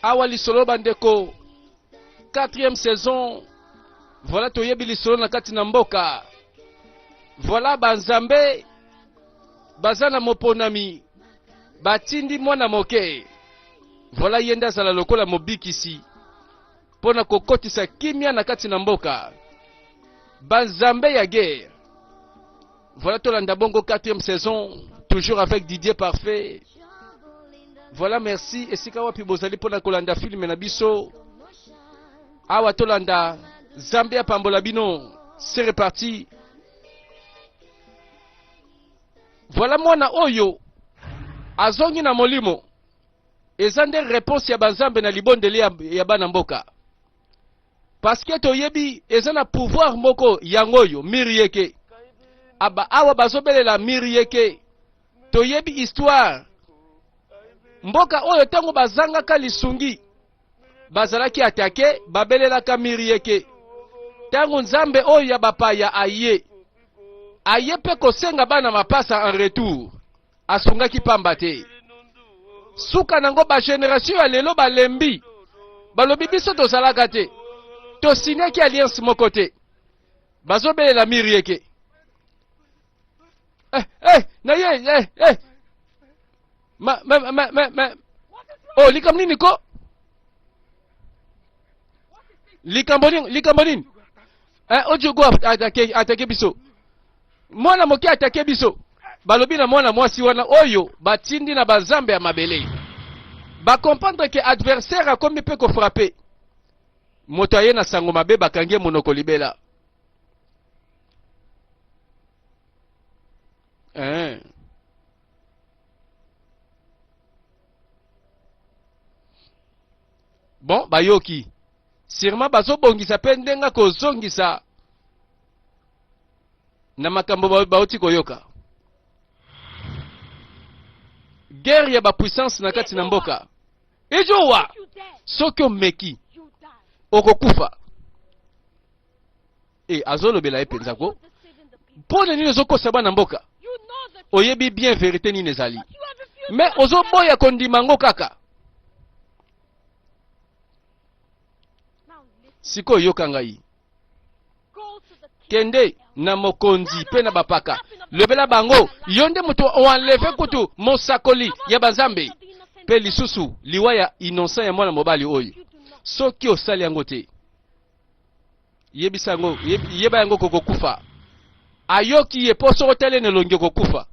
awa lisolo bandeko 4e saison voilà toyebi lisolo na kati na mboka voilà banzambe baza na moponami batindi mwana moke voilà ye nde azala lokola mobikisi mpo na kokotisa kimya na kati na mboka banzambe ya guerre Voilà Tolanda Bongo quatrième saison, toujours avec Didier Parfait. Voilà, merci. Et si Kawapi Bozali pour la Kolanda film et Nabiso. Awa Tolanda, Zambia Pambolabino, c'est reparti. Voilà moi na Oyo, Azongi na Molimo. Ezande réponse ya Banzambe na Libondeli ya Banamboka. parce que toyebi eza na pouvoir moko yango oyo mirieke aba awa bazobelela mirieke toyebi histoire mboka oyo ntango bazangaka lisungi bazalaki atake babelelaka mirieke ntango nzambe oyo ya bapaya aye aye mpe kosenga bana mapasa en retour asungaki pamba te suka nango bageneratio ya lelo balembi balobi biso tozalaka te tosinyaki alliance moko te bazobelela miri eke eh, eh, na ye eh, eh. ma, ma, ma, ma, ma. o oh, likambo nini ko likambo nini likambo nini Eh, Ojogo atake, atake biso. Mwana moke atake biso. Balobi na mwana mwasi wana oyo batindi na bazambe ya mabele. Ba comprendre que adversaire akomi pe ko frapper. Moto aye na sango mabe bakangi monoko libela. Eh. bon bayoki sûrement bazobongisa mpe ndenge akozongisa na makambo bauti koyoka guerre ya bapuissance na kati na mboka ejowa soki omeki okokufa e azolobela ye mpenza ko mpo na nini ozokosa bana mboka oyebi bien verite nini ezali me ozoboya kondima yango kaka sikoyo yoka ngai kende na mokonzi mpe na bapaka lobela bango yo nde moto oanleve kutu mosakoli ya banzambe mpe lisusu liwa ya innocent ya mwana mobali oyo soki osali yango te yebisa yango yeba yango kokokufa ayoki ye mpo soko telene elongi okokufa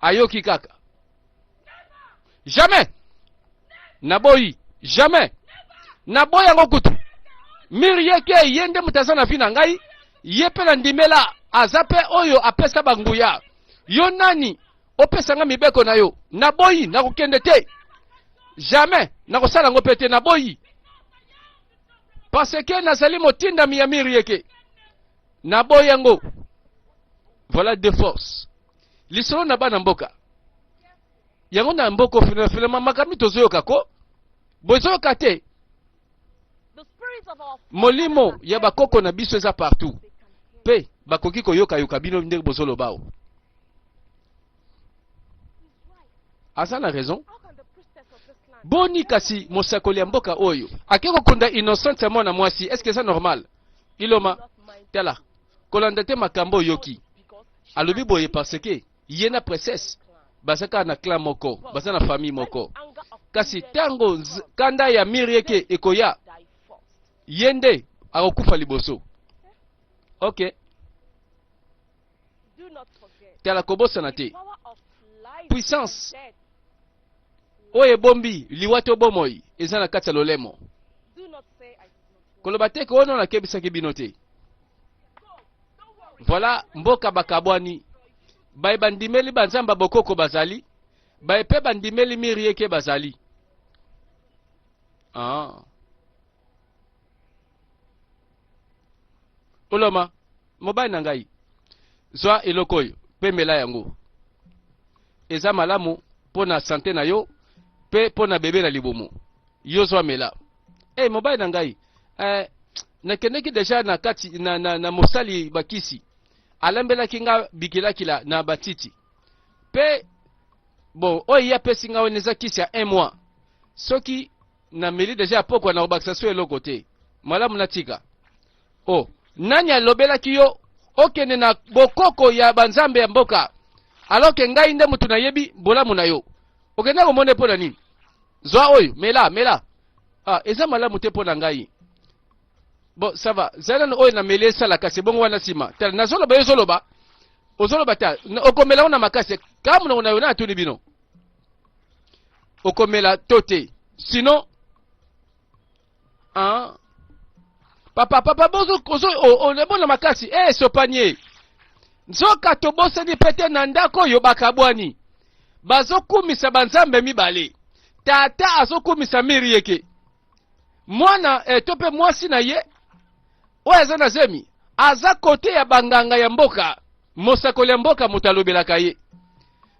ayoki kaka jamais naboyi jamais naboyi yango kutu miri yeke ye nde moto aza na vi na ngai ye mpe na ndimela aza mpe oyo apesa banguya yo nani opesa ngai mibeko na yo naboyi nakokende te jamais nakosala yango mpe te naboyi parce que nazali motindami ya mire yeke naboyi yango voilà de force lisolo na bana mboka yango na mboko finafilama makambo tozoyoka ko bozoyoka te molimo ya bakoko na biso eza partout mpe bakoki koyokayoka bino ndenge bozoloba o aza na raison boni kasi mosakoli ya mboka oyo ake kokunda innocente ya mwana mwasi eske eza normal iloma tala kolanda te makambo oyoki alobi boye parce que ye na princesse baza kaka na clan moko baza na famille moko kasi ntango kanda ya mire eke ekoya ye nde akokufa liboso ok Tala, kobosana te puissance oyo ebombi liwa to bomoi eza na kati ya lolemo. Koloba te koona nakebisaki bino te. Voilà mboka bakabwani baye bandimeli banzamba bokoko bazali baye mpe bandimeli miri yeke bazali ah. oloma mobali na ngai zwa eloko oyo mpe mela yango eza malamu mpo na sante na yo mpe mpo na bebe na libumu yo zwa mela e mobali na ngai eh, nakendeki deja na kati na, na, na mosali bakisi alambelaki nga bikilakila na batiti mpe bon oyo ye apesi nga wana eza kisi ya un mois soki na meli deja ya pokwa na kobakisa so eloko te malamu natika o oh, nani alobelaki yo okende na bokoko ya banzambe ya mboka alors ke ngai nde moto nayebi bolamu na yo okenda komona mpo na nini zwa oyo mela mela ah, eza malamu te mpo na ngai bon ça va zala na oyo nameli esala kasi ebongo wana nsima tala nazoloba yo ozoloba ozoloba ta okomela ngo na makasi kamonoko na yo na atuni bino okomela to te sinon hein? papa papa bozo ozo onebona makasi e eh, sopanie nzoka tobosani mpe te na ndako oyo bakabwani bazokumisa banzambe mibale tata azokumisa miri yeke mwana eh, to mpe mwasi na ye oyo aza na zemi aza kote ya banganga ya mboka mosakoli ya mboka moto alobelaka ye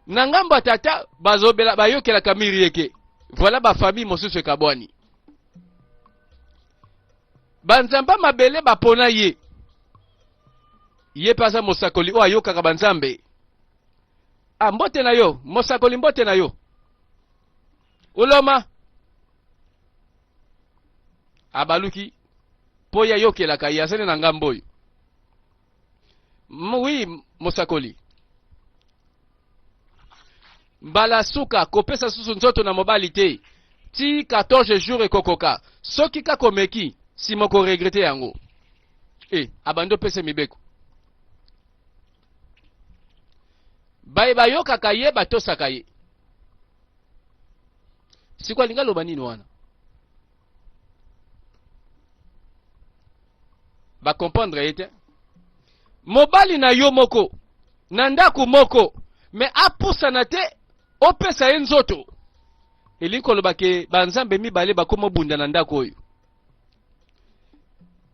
na ngambo ya tata bazobela bayokelaka mirieke voilà bafamille mosusu ekabwani banzamba mabele bapona ye ye mpe aza mosakoli oyo ayokaka banzambe a ah, mbote na yo mosakoli mbote na yo oloma abaluki mpo ye ayokelaka ye azali na ngambo oyo M- oui mosakoli mbala ya suka kopesa susu nzoto na mobali te ti 14 jours ekokoka soki kaka omeki nsima okoregrete yango e abandi opesa ye mibeko baye bayokaka ye batosaka ye sikoyo alingi aloba nini wana ba comprendre ye te mobali na yo moko na ndako moko me apusana te opesa ye nzoto elingi koloba ke banzambe mibale bakoma obunda na ndako oyo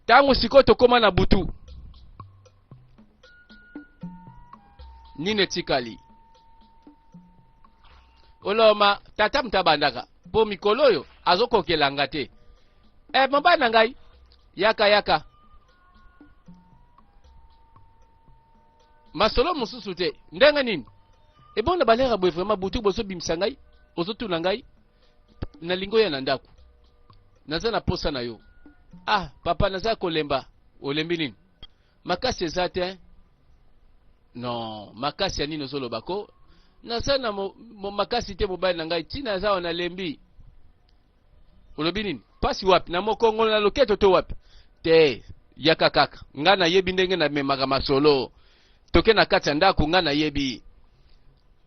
ntango sikoyo tokóma na butu nini etikali oloma tata moto abandaka mpo mikolo oyo azokokela nga te e mobali na ngai yaka yaka masolo mosusu te ndenge nini ebonda balera boye vraimen butu bozobimisa ngai ozotuna ngai nalingi oya na ndako naza na posa na yo ah papa naza kolemba olembi nini makasi eza te non makasi ya nini ozoloba ko naza na mo, mo, makasi te mobali na ngai ntina aza wana lembi olobi nini mpasi wapi na mokongolo na loketo to wapi te yaka kaka ngai nayebi ndenge namemaka masolo toke na kati ya ndako ngai nayebi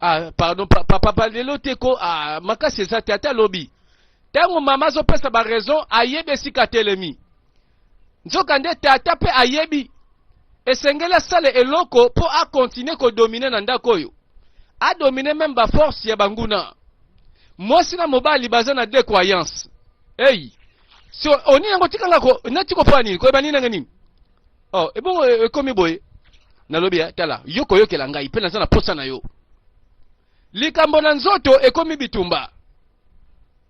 ah, pardon papa pa, pa, lelo te ko ah, makasi eza te ata lobi ntango mama azopesa baraison ayebi esika atelemi nzokande tata mpe ayebi esengeli asala eloko mpo akontinue kodomine na ndako oyo adomine meme baforce ya banguna mwasi na mobali baza na de croyance eyi so oni yango tikanga ko nati kopona nini koyeba nini nanga nini oh ebongo e, ekomi boye nalobi ya tala yo koyokela ngai mpe naza na posa na yo likambo na nzoto ekomi bitumba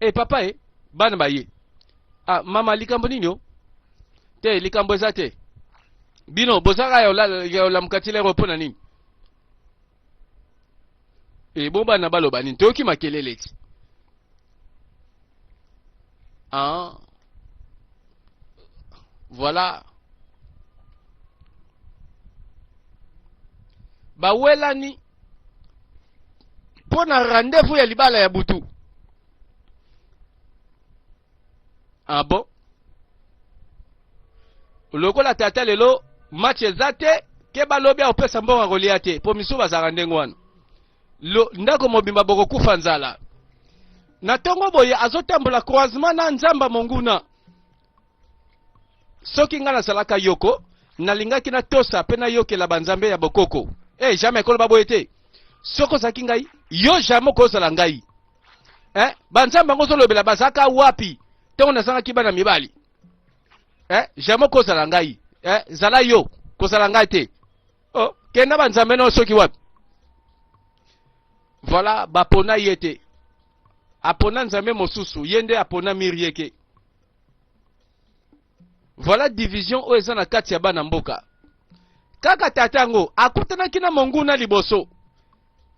e papa e bana baye Ah, mama likambo nini o? Te, likambo eza te. Bino bozaka ya olamuka ti lero mpo na nini? E bo bana baloba nini? Toyoki makelele ti. Ah. Voilà. Bawelani mpo na rendez-vous ya libala ya butu ah bon lokola tata lelo match eza te ke balobi akopesa mbongo akolia te mpo misusu bazalaka ndenge wana ndako mobimba bokokufa nzala na ntongo boye azotambola croisement na nzamba monguna soki ngai nazalaka yoko nalingaki natosa mpe nayokela banzambe ya bokoko e eh, hey, jamai koloba boye te soki ozalaki ngai yo jamai okozala ngai eh? banzambe yango ozolobela bazalaka wapi ntango nazangaki bana mibali eh? jamai okozala ngai eh? zala yo kozala ngai te oh, kenda banzambe nao soki wapi voilà bapona ye te apona nzambe mosusu ye nde apona mirieke voilà division oyo eza na kati ya bana mboka kaka tata yango akutanaki na monguna liboso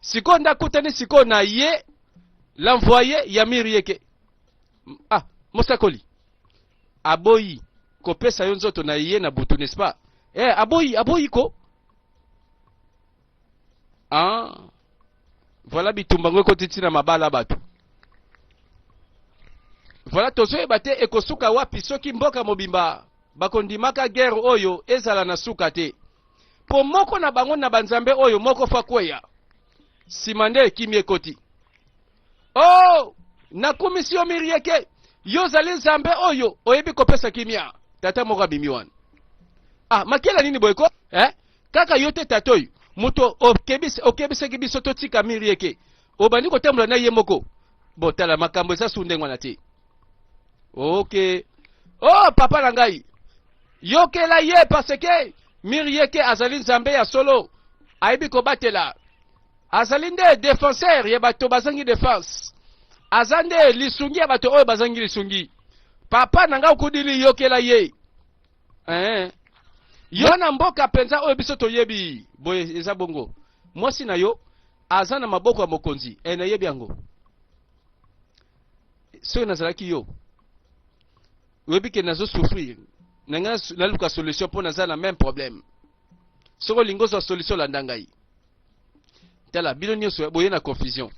sikoyo nde akutani sikoyo na ye l'envoye ya mirieke ah mosakoli aboyi kopesa yo nzoto na ye na butu n'est-ce pas eh aboyi aboyi ko ah voilà bitumba ngo ekoti ntina mabala bato voilà tozoyeba te ekosuka wapi soki mboka mobimba bakondimaka guerre oyo ezala na suka te mpo moko na bango na banzambe oyo moko fa kweya nsima nde ekimi ekoti o oh, nakumisi yo mirieke yo ozali nzambe oyo oyebi kopesa kimia tata moko abimi wana ah makela nini boyeko eh? kaka yo te tata oyo moto okebisi okebisaki biso totika miri eke obandi kotambola na ye moko botala makambo eza su ndenge wana te oke o oh, papa na ngai yokela ye parce que miri eke azali nzambe ya solo ayebi kobatela azali nde defenseur ya bato bazangi defense aza nde lisungi ya bato oyo bazangi lisungi papa na ngai okudili yokela ye eh. yo na mboka mpenza oyo biso toyebi boye eza bongo mwasi na yo aza na maboko ya mokonzi e nayebi yango soki nazalaki yo oyebi ke nazo souffrir na ngai naluka solution mpo naza na même problème soki olingi ozwa solution landa ngai tala bino nyonso boye na confusion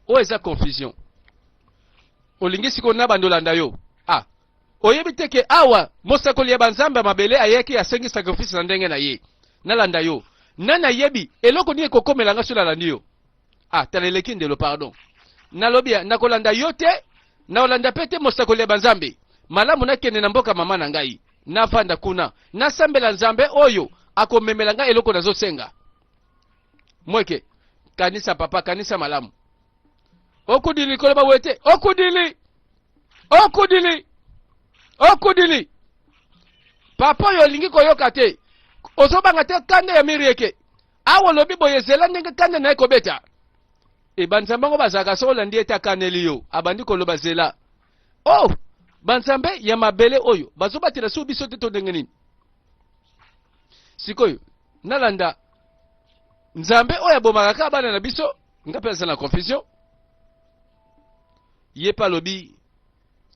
oyo eza confusion olingi sikoyo na bando landa yo Oyebi te ke awa mosakoli ya banzambe ya mabele ayaki asengi sacrifice na ndenge na ye. Nalanda yo. Nani ayebi eloko nini ekokomela nga soki nalandi yo? Ah, tala eleki ndelo pardon. Nalobi nakolanda yo te, nakolanda pe te mosakoli ya banzambe. Malamu nakende na mboka mama na ngai. Nafanda kuna, nasambela Nzambe oyo akomemela ngai eloko nazosenga. Mweke, kanisa papa, kanisa malamu. Okudili koloba wete, okudili okudili okudili papa oyo olingi koyoka te ozobanga te kanda ya mirieke awa olobi boye zela ndenge kanda na ye kobeta e banzambe yango bazalaka soki olandi ete akaneli yo abandi koloba zela o oh, banzambe ya mabele oyo bazobatela soki biso te to ndenge nini sikoyo nalanda nzambe oyo abomaka kaka bana na biso nga mpe aza na confusion Ye pe alobi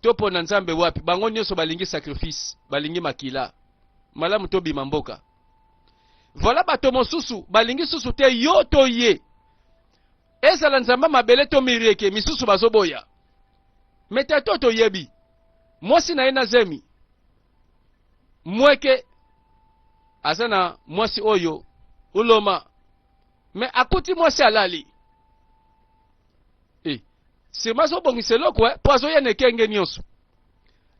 to pona nzambe wapi bango nioso balingi sacrifice balingi makila malamu to bima mboka voilà bato mosusu balingi susu te yo to ye ezala nzamba mabele to mirieke misusu bazoboya mete to toyebi mwasi na ye na zemi mweke aza na mwasi oyo uloma me akuti mwasi alali Eh, sirma azobongisa eloko eh, po azoya na ekenge nyonso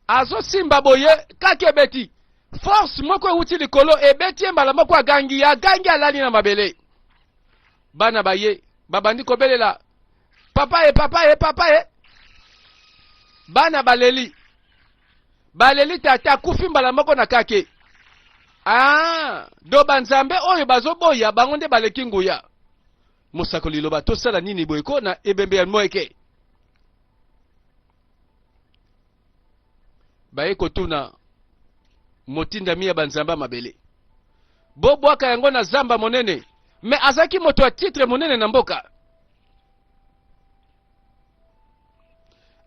azosimba boye kaki ebeti force moko ewuti likolo ebeti ye mbala moko agangi agangi alali na mabele bana baye babandi kobelela papa ye papa ye papa ye bana baleli baleli tata akufi mbala moko na kake ah do banzambe oyo bazoboya bango nde baleki nguya Mosakoli loba tosala nini boye ko na ebembe ya moeke. Baye kotuna motindami ya banzamba mabele. Bobwaka yango na zamba monene. Me azalaki moto ya titre monene na mboka.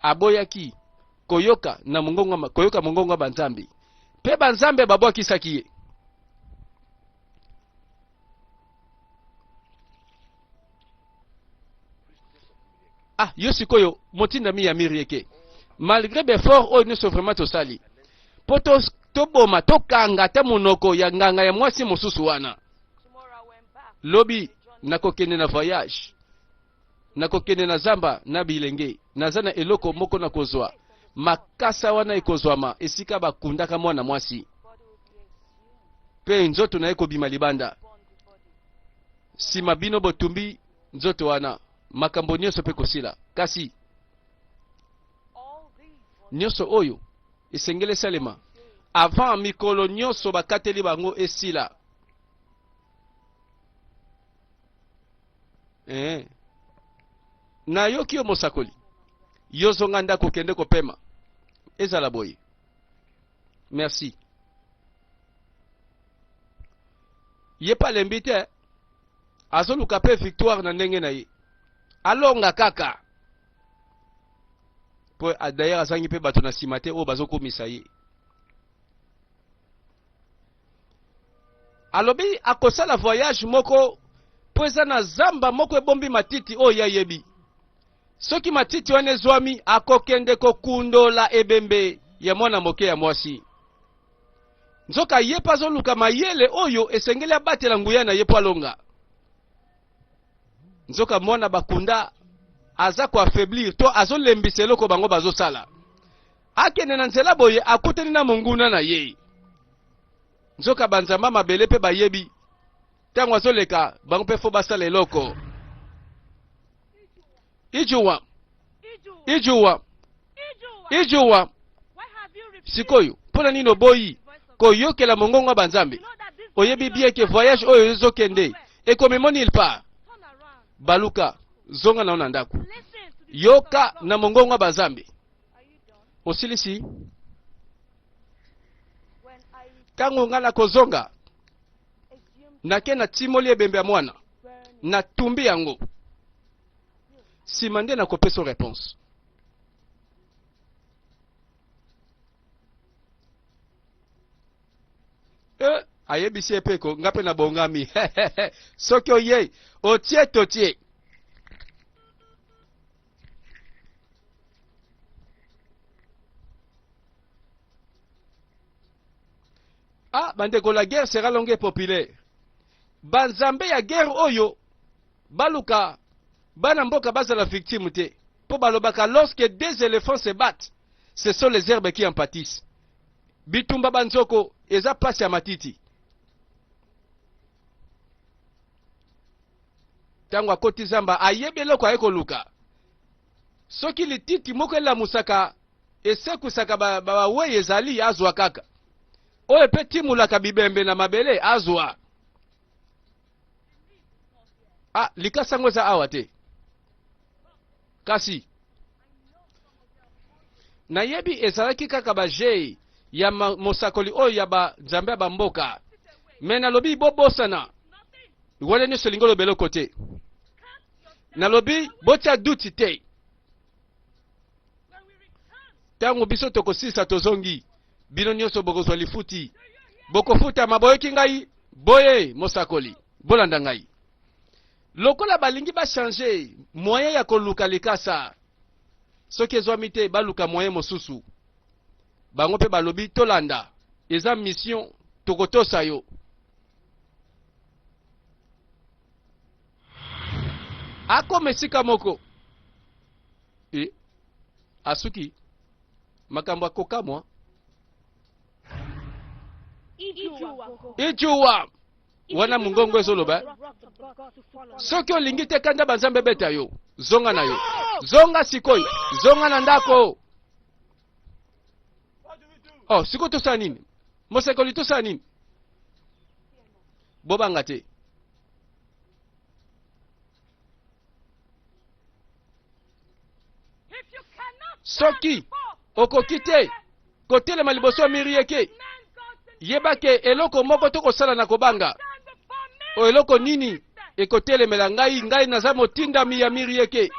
Aboyaki koyoka na mongongo koyoka mongongo ya banzambe. Pe banzambe babwakisaki ye. ah yo sikoyo motindami ya mirieke malgré befort oyo nyonso vraiment tosali mpo toboma tokanga ata monoko ya nganga ya mwasi mosusu wana lobi nakokende na voyage Nakokende na zamba na bilenge, naza na eloko moko na kozwa. Makasa wana ekozwama esika bakundaka mwana mwasi, mpe nzoto na ye kobima libanda. Sima bino botumbi nzoto wana, makambo nyonso mpe kosila. Kasi nyonso oyo esengeli esalema avant mikolo nyonso bakateli bango esila. eh. nayoki yo mosakoli yo zonga ndako kende kopema ezala boye merci ye pa alembi te azoluka mpe victoire na ndenge na ye alonga kaka mpo d'ailleurs azangi mpe bato na nsima te oyo bazokumisa ye alobi akosala voyage moko mpo eza na zamba moko ebombi matiti oyo ye ayebi soki matiti wana ezwami akokende kokundola ebembe ya mwana moke ya mwasi nzoka ye mpe azoluka mayele oyo esengeli abatela nguya na ye mpo alonga nzoka mwana bakunda aza koaffaiblir to azolembisa eloko bango bazosala Akende na nzela boye akutani na monguna na ye. Nzoka banzamba mabele mpe bayebi ntango azoleka bango mpe fo basala eloko. Ijuwa, ijuwa, ijuwa. Sikoyo mpo na nini oboyi koyokela mongongo ya banzambe? Oyebi bien ke voyage oyo ezokende ekomemoni il part baluka zonga na yo na ndako yoka na mongongo ya bazambe osilisi ntango ngai nakozonga nake natimoli ebembe ya mwana natumbi yango nsima nde nakopesa reponse e ayebisi ye mpe ko nga mpe nabongami soki oyei otie totie ah bandeko la guerre sera longue populaire banzambe ya guerre oyo baluka bana mboka bazala victime te mpo balobaka lorsque deux éléphants se battent ce sont les herbes qui en pâtissent bitumba banzoko eza mpasi ya matiti ntango akoti zamba ayebi eloko aye koluka soki lititi moko elamusaka esekwisaka bawei ba ezali azwa kaka oyo epe timulaka bibembe na mabele azwa ah, likasa yango eza awa te kasi nayebi ezalaki kaka bajei ya mosakoli oyo ya banzambe ya bamboka me nalobi bobosana wana nyonso elingi oloba eloko te nalobi botya duti te ntango biso tokosilisa tozongi bino nyonso bokozwa lifuti bokofutama boyoki ngai boye mosakoli bolanda ngai Lokola balingi ba changer moyen ya koluka likasa, soki ezwami te baluka moyen mosusu. Bango mpe balobi tolanda, eza mission, tokotosa yo. Akoma esika moko e, asuki makambo ya kokamwa. Ijuwa. wana mongongo ezoloba soki olingi te kanda banzambe ebeta yo zonga na yo zonga sikoyo zonga na ndako oh sikoyo tosala nini mosakoli tosala nini bobanga te soki okoki te kotelema liboso ya miri yeke yeba ke eloko moko to kosala na kobanga o eloko nini ekotelemela ngai ngai naza motindami ya miri yeke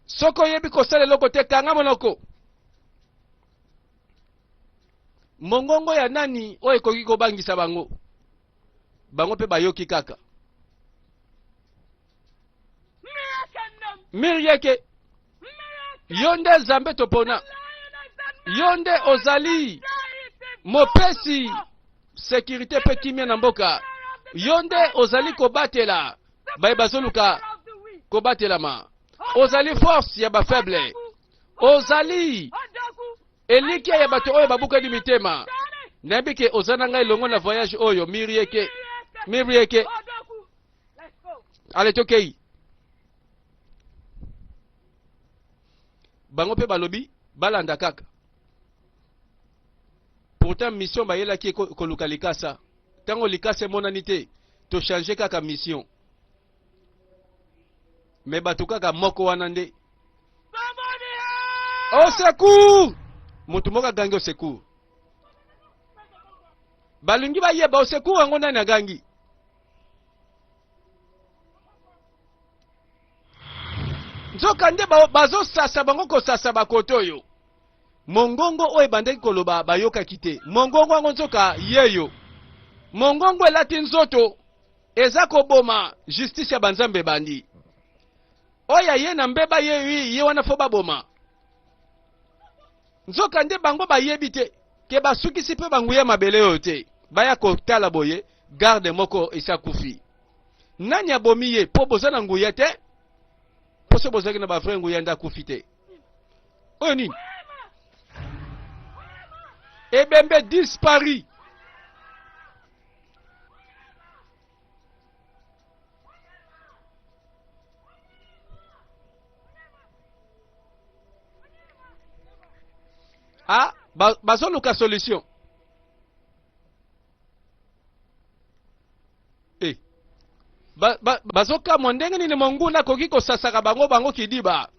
soki oyebi kosala eloko te kanga monoko mongongo ya nani oyo ekoki kobangisa bango bango mpe bayoki kaka mirieke yo nde zambe topona yo nde ozali mopesi sekirite mpe kimia na mboka yo nde ozali kobatela baye bazoluka kobatelama ozali force ya bafaible ozali elikya ya bato oyo babukani mitema nayebi ke oza na ngai elongo na voyage oyo mirieke mirieke ale tokei bango mpe balobi balanda kaka pourtant mission bayelaki koluka likasa ntango likasa emonani te tochange kaka mission me bato kaka moko wana nde au secours moto moko agangi au secours balingi bayeba au secours yango nani agangi nzokande bazosasa bango kosasa bakoto oyo mongongo oyo ebandaki koloba bayokaki te mongongo yango nzoka yeyo mongongo elati nzoto eza koboma justice ya banzambe ebandi oyo aye na mbeba yeyo ye wana fo baboma Nzoka nde bango bayebi te ke basukisi mpe banguya mabele oyo te baya kotala boye garde moko esi akufi nani abomi ye mpo boza na nguya te mpo so bozalaki na bavrai nguya nde akufi te oyo nini ebembe dispari ah bazoluka ba solution e eh. bazokamwa ba, ba ndenge nini monguna akoki kosasaka bango bango kidiba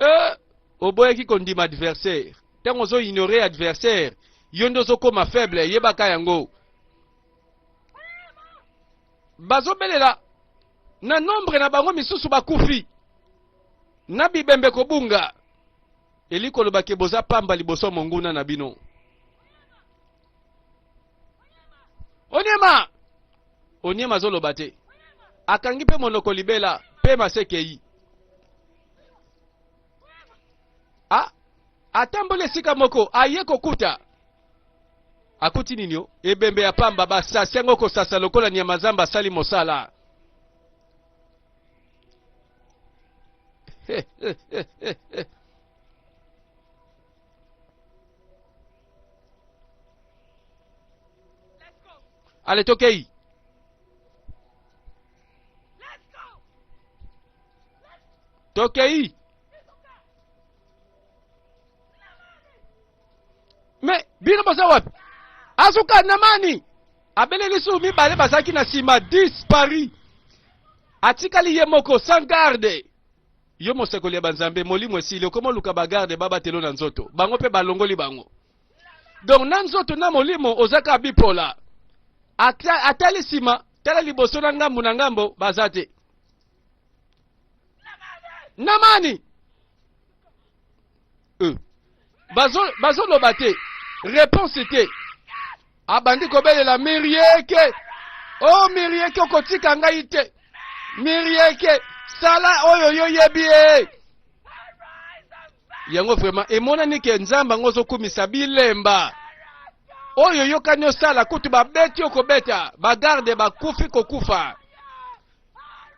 e oboyaki kondima adversaire ntango ozoignore adversaire yo nde ozokoma faible yebaka yango bazobelela na nombre na bango misusu bakufi na bibembe kobunga eli koloba ke boza pamba liboso monguna na bino onyema onyema azoloba te akangi mpe monoko libela mpe masekei a ah, atamboli esika moko aye kokuta akuti nini o ebembe ya pamba basasi yango kosasa lokola nyama zamba asali mosala ale tokei tokei me bino boza wapi azuka na mani abeleli su mibale bazalaki na nsima dispari atikali ye moko sans garde yo mosekoli ya banzambe molimo esili okoma oluka bagarde babatelo na nzoto bango mpe balongoli bango donc na nzoto na molimo ozaka bipola atali nsima tala liboso na ngambo na ngambo baza te namani euh. bazo bazo loba te réponse te abandi kobelela mirieke o oh, mirieke okotika ngai te mirieke sala oyo yo yebi ye yango vraiment emonani ke nzambe yango ozokumisa bilemba oyo oyokani osala kutu babeti okobeta bagarde bakufi kokufa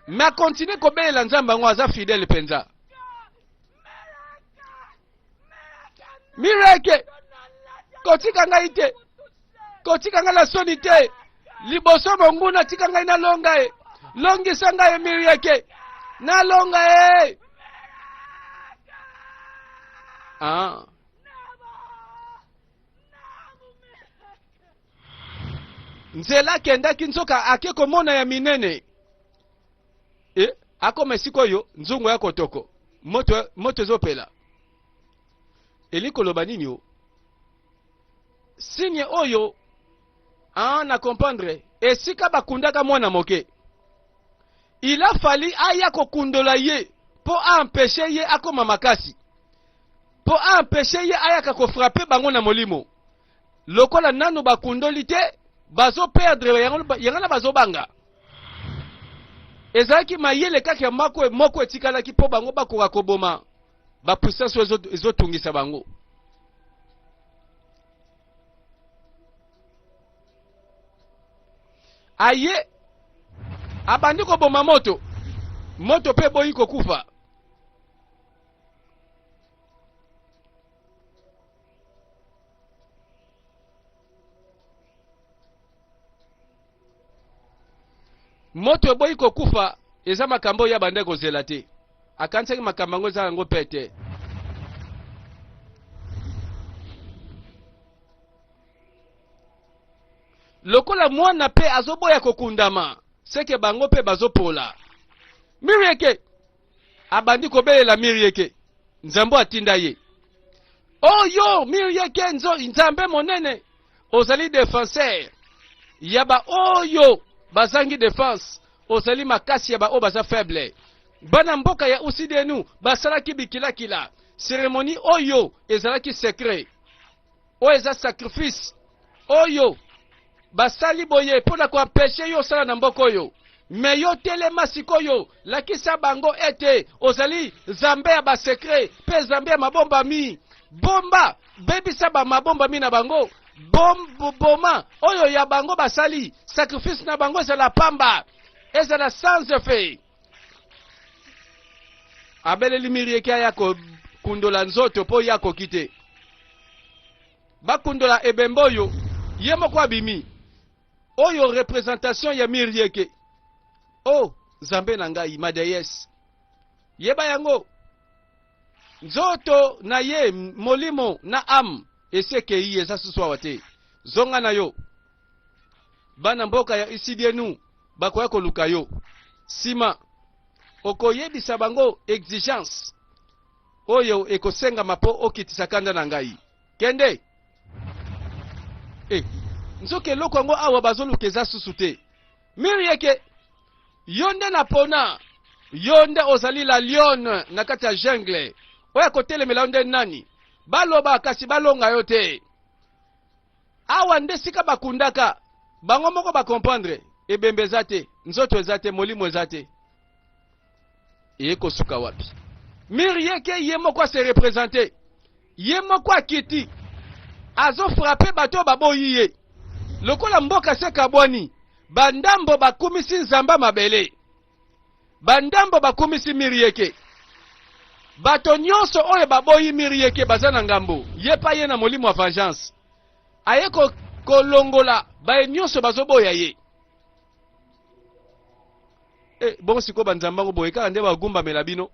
me akontinue kobelela nzambe yango aza fidele mpenza mireke kotika ngai te kotika ngai na soni te liboso monguna tika ngai nalonga ye longisa ngai ye mireke nalonga ye ah. nzela akendaki nzoka ake komona ya minene e akoma esika oyo nzungu ya kotoko moto, moto ezopela eli koloba nini o signe oyo ah, na comprendre esika bakundaka mwana moke il a fali aya kokundola ye mpo aempeshe ye akoma makasi mpo aempeshe ye ayaka kofrape bango na molimo lokola nanu bakundoli te bazo perdre yangana bazobanga ezalaki mayele kaka ya mako moko etikalaki mpo bango bakoka koboma bapuissance oyo ezotungisa bango aye abandi koboma moto moto mpe eboyi kokufa moto eboyi kokufa eza makambo oyo abanda kozela te akanisaki makambo yango eza yango mpe te lokola mwana mpe azoboya kokundama seke bango mpe bazopola mirieke abandi kobelela mirieke nzambe atinda ye oyo oh, mirieke nzambe monene ozali defenseur ya baoyo oh, bazangi defense ozali makasi ya baoyo baza faible bana mboka ya usidenu basalaki bikilakila seremoni oyo ezalaki sekret oyo eza sacrifice oyo basali boye mpo na koampeshe yo osala na mboka oyo me yo telema sikoyo lakisa bango ete ozali zambe ya basekre mpe zambe ya mabombami bomba bebisa bamabombami na bango boma oyo ya bango basali sacrifice na bango ezala pamba ezala sans effet abeleli mirie ke aya kokundola nzoto mpo ye akoki te bakundola ebembe oyo ye moko abimi oyo representation ya mirieke o oh, nzambe na ngai madeyese yeba yango nzoto na ye molimo na ame esi ekei eza susu awa te zonga na yo bana mboka ya isidienu bakoya koluka yo nsima okoyebisa bango exigence oyo ekosengama mpo okitisa kanda na ngai kende e nzoka eloko yango awa bazoluka eza susu te miri yeke yo nde napona yo nde ozali la lione na kati ya jungle oyo akotelemela yo nde nani baloba kasi balonga yo te Awa nde sika bakundaka bango moko ba comprendre ebembe eza te nzoto eza te molimo eza te eye kosuka wapi miri yeke ye moko ase represente ye moko akiti azofrape bato oyo baboyi ye lokola mboka se kabwani bandambo bakumisi nzamba mabele Bandambo bakumisi Mirieke. Bato nyonso oyo baboyi Mirieke baza na ngambo. Ye pa ye na molimo ya vengeance. Aye ko, kolongola baye nyonso bazoboya ye. Eh, bongo sikoyo banzambe yango boye kaka nde bagumbamela bino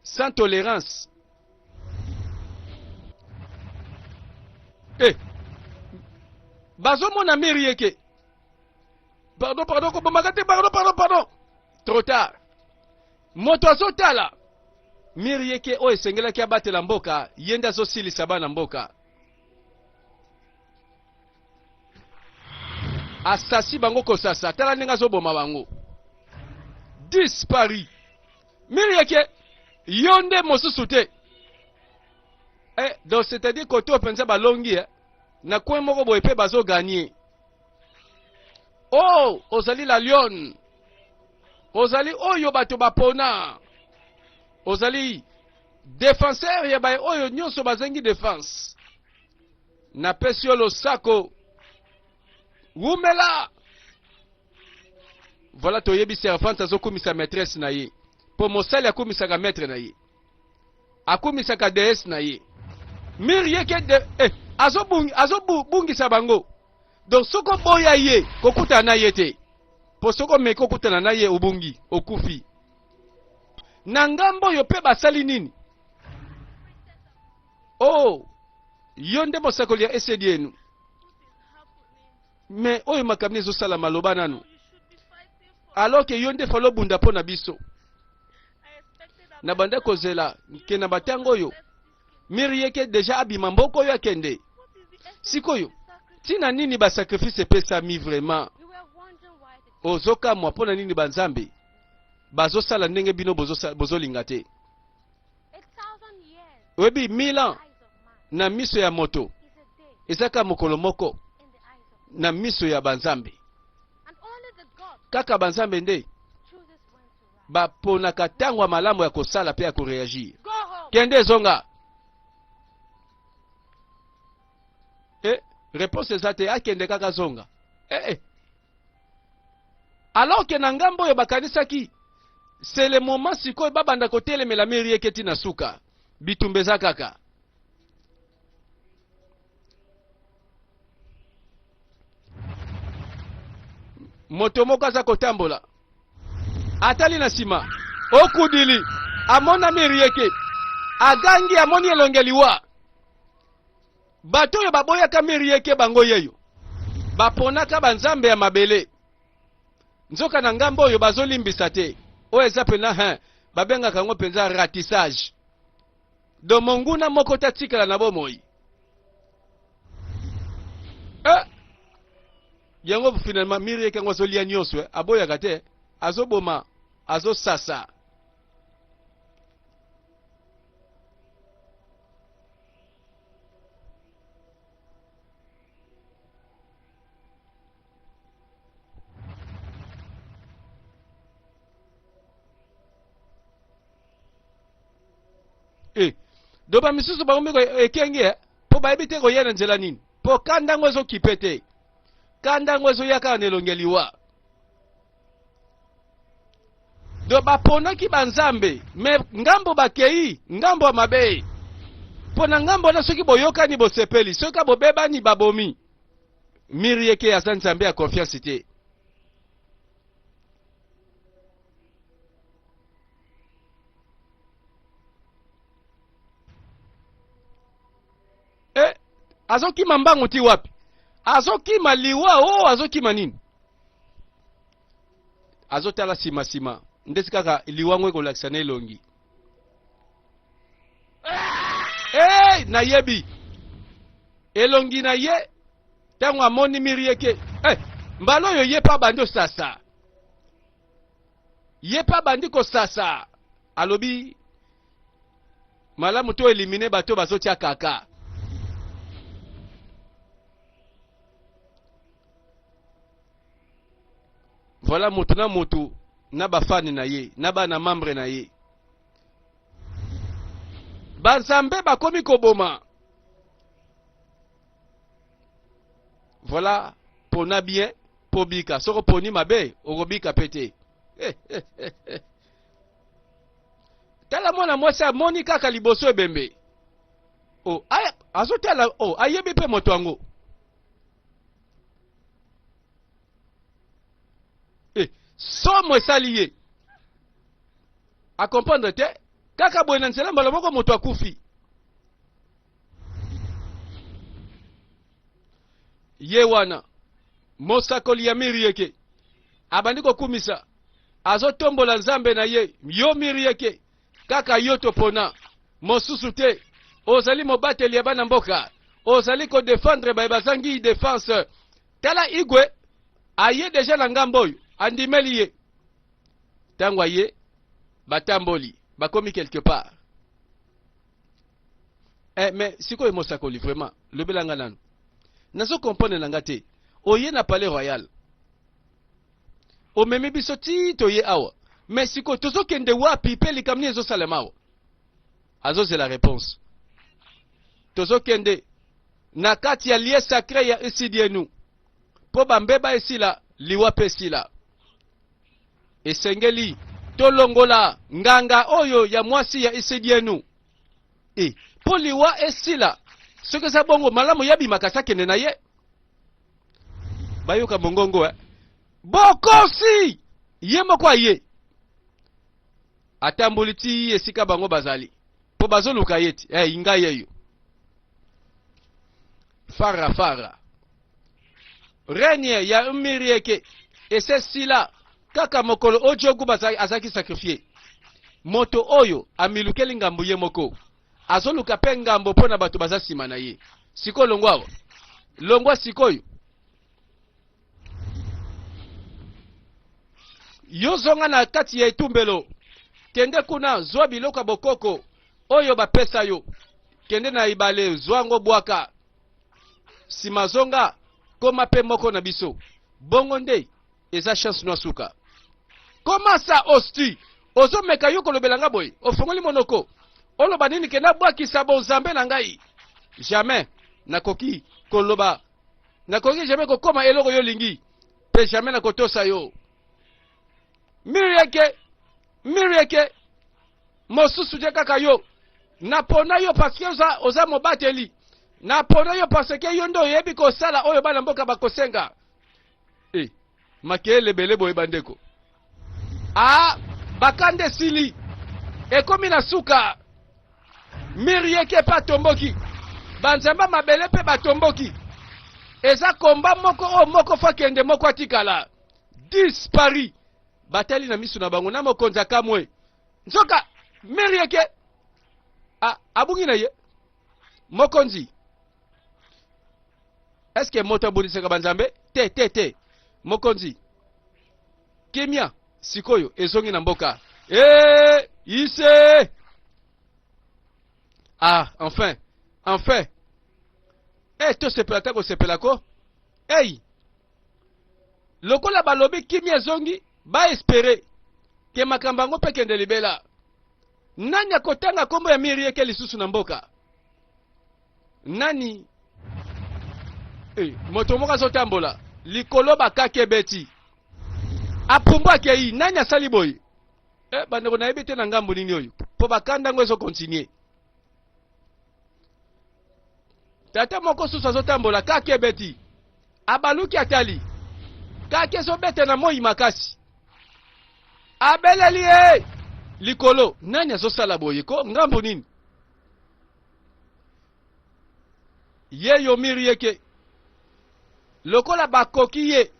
sans tolerance eh, bazomona miri yeke pardon pardon kobomaka te pardon pardon pardon trop tard moto azotala mire yeke oyo esengelaki abatela mboka ye nde azosilisa bana mboka asasi bango kosasa tala ndenge azoboma bango dispari mire yeke yo nde mosusu te eh, donc c'est-à-dire koto mpenza balongi eh? na coin moko boye mpe bazoganie o oh, ozali la lion ozali oyo bato bapona ozali defenseur ya baye oyo nyonso bazangi defense napesi yo losako wumela voilà toyebi servante azokumisa maîtresse na ye mpo mosali akumisaka maître na ye Akumisaka deesse na ye. Mire ye ke de eh, azo bungi azo bungisa bango. Donc soko boya ye kokutana na ye te. Po soko me kokutana na ye obungi okufi. Na ngambo oyo pe basali nini? Oh, yo nde mosakoli ya esedienu. Mais oyo makambo ezo sala maloba nanu. Alors que yo nde falo bunda mpo na biso. Na banda kozela ke na batango oyo miri yeke deja abima mboko oyo akende. Sikoyo tina nini ba sacrifice epesami vraiment? Ozokamwa mpo na nini banzambe bazosala ndenge bino bozolinga te? oyebi 1000 ans na miso ya moto ezaka mokolo moko na miso ya banzambe kaka banzambe nde baponaka ntango ya malamu ya kosala mpe ya koreagir kende ezonga e eh, reponse eza te akende kaka zonga ee eh, eh. alors que na ngambo oyo bakanisaki c'est le moment sikoyo babanda kotelemela merieke ti na suka bitumba eza kaka moto moko aza kotambola atali na nsima okudili amonami rieke agangi amoni elonge liwa Bato oyo baboyaka miri yeke bango yeyo baponaka banzambe ya mabele nzoka na ngambo oyo bazolimbisa te oyo eza mpenza hein babengaka yango mpenza ratissage do monguna moko tatikala na bomoi eh? yango finalement miri yeke yango azolia nyonso eh? aboyaka te azoboma azosasa e eh, do bamisusu bakomi ekenge eh, mpo bayebi te koya na nzela nini mpo kanda yango ezokipe te kanda yango ezoya kaka na elongi ya liwa do baponaki banzambe me ngambo bakei ngambo ya mabe mpo na ngambo wana soki boyokani bosepeli soki bobebani babomi miri yeke aza nzambe ya konfiansi te eh, azokima mbangu ti wapi azokima liwa o oh, azokima nini azotala nsima nsima ndeti kaka liwa ngo ekolakisa na elongi hey, eh, nayebi elongi na ye ntango amoni miri eke hey, eh, mbala oyo ye mpe abandi osasa ye mpe abandi kosasa alobi malamu to elimine bato bazotya kaka voilà motu na motu na bafani na ye na bana membre na ye banzambe bakomi koboma voilà pona bien pobika soko poni mabe okobika pe te eh, eh, eh, eh. tala mwana mwasi amoni kaka liboso ebembe oh, azotala oh, ayebi mpe moto yango eh, somo esali ye akomprendre te kaka boye na nzela mbala moko moto akufi ye wana mosakoli ya miri yeke Abandi kokumisa. Azo tombola Nzambe na ye. Yo Mirieke. Kaka yo topona. Mosusu te. Ozali mobateli ya bana mboka. Ozali ko defendre baye bazangi defense. Tala Igwe. Aye deja na ngambo oyo. Andimeli ye. Tango aye. Batamboli. Bakomi quelque part. eh, mais sikoyo mosakoli vraiment lobela nga nanu nazo comprendre na nga te oye na palais royal omemi biso ti toye awa mais sikoyo tozokende wapi mpe likambo nini ezosalema awa azozela réponse tozokende na kati ya lie sacré ya esidienu mpo bambeba esila liwa mpe esila esengeli tolongola nganga oyo ya mwasi ya isidienu e mpo liwa esila soki eza bongo malamu ya bimakasi akende na ye bayoka mongongo e bokosi ye moko aye atamboli ti esika bango bazali mpo bazoluka ye ti hey, eh, ngai yeyo fara fara Règne ya Mirieke ese sila kaka mokolo Ojogu azaki sacrifier. Moto oyo amilukeli ngambo ye moko azoluka mpe ngambo mpo na bato baza nsima na ye. Sikoyo longwa awa, longwa sikoyo. Yo zonga na kati ya etumbelo, kende kuna, zwa biloko ya bokoko oyo bapesa yo, kende na ebale, zwa yango, bwaka sima zonga koma pe moko na biso bongo nde eza chance no suka koma sa osti ozomeka yo kolobela nga boye ofongoli monoko oloba nini ke nabwakisa bonzambe na ngai jamais nakoki koloba nakoki jamais kokoma eloko yo olingi pe jamais nakotosa yo mirieke mirieke mosusu te kaka yo napona yo parce que oza, oza mobateli napona yo parce que yo nde oyebi kosala oyo bana mboka bakosenga e eh, makele ebele boye bandeko a bakanda esili ekomi na suka miri yeke mpe atomboki banzamba mabele mpe batomboki eza komba moko oyo moko fakende moko atikala 10 paris Batali na misu na bango na mokonzi akamwe. Nzoka meri yake abungi na ye. Mokonzi, eske moto abundisaka banzambe? Te, te, te. Mokonzi, kimia sikoyo ezongi na mboka. Ee, ise! Ah, enfin, enfin. Eh, tosepela ta kosepela ko. Ei! lokola balobi kimia ezongi baespere ke makambo yango mpe kende libela nani akotanga nkombo ya mirieke lisusu na mboka nani hey, eh, moto moko azotambola likolo bakake beti apumbu akei nani asali boye eh, bandeko nayebi te na ngambo nini oyo mpo bakanda yango ezokontinue tata moko susu azotambola kake ebeti abaluki atali kake ezobeta na moi makasi abeleli ye likolo nani azosala boye ko ngambo nini ye yomiri yeke lokola bakoki ye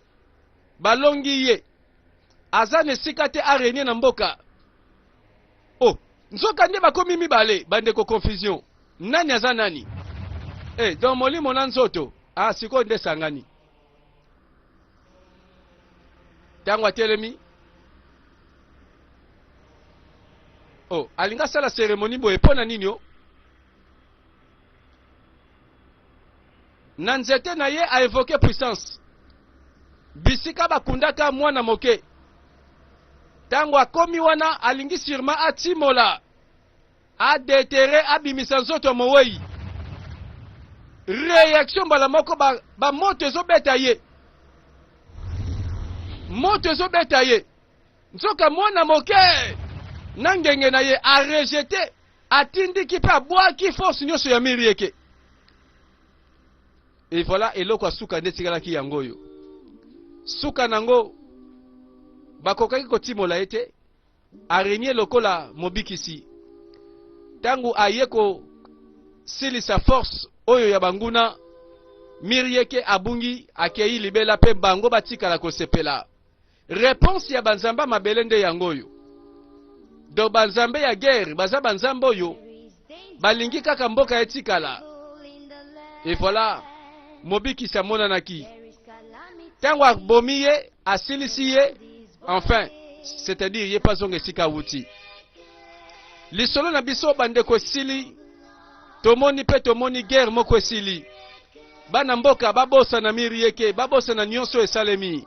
balongi ye aza na esika te arenie na mboka Oh, nzoka nde bakomi mibale bandeko confusion. Nani aza nani? Eh, donc molimo na nzoto. Ah, sikoyo nde sangani. Tango atelemi. Oh, alinga sala cérémonie boye pona nini oh? na nzete na ye a evoke puissance bisika bakundaka mwana moke ntango akomi wana alingi sirma atimola adetere abimisa nzoto ya mowei reaction mbala moko bamoto ba ezobeta ye moto ezobeta ye nzoka mwana moke na ngenge na ye arejete atindiki mpe abwaki force nyonso ya miri eke e voilà eloko ya suka nde etikalaki yango oyo suka nango bakokaki kotimola ye te arenie lokola mobikisi ntango aye kosilisa force oyo ya banguna miri eke abungi akei libela mpe bango batikala kosepela Reponse ya banzambe ya mabele nde yango oyo. Donc banzambe ya guerre baza banzambe oyo balingi kaka mboka etikala. Et voilà, mobikisi amonanaki. Tango abomi ye, asilisi ye, enfin, c'est-à-dire ye pazonga esika awuti. Lisolo na biso bandeko esili, tomoni pe tomoni guerre moko esili. Bana mboka babosana miri yeke, babosana nionso esalemi.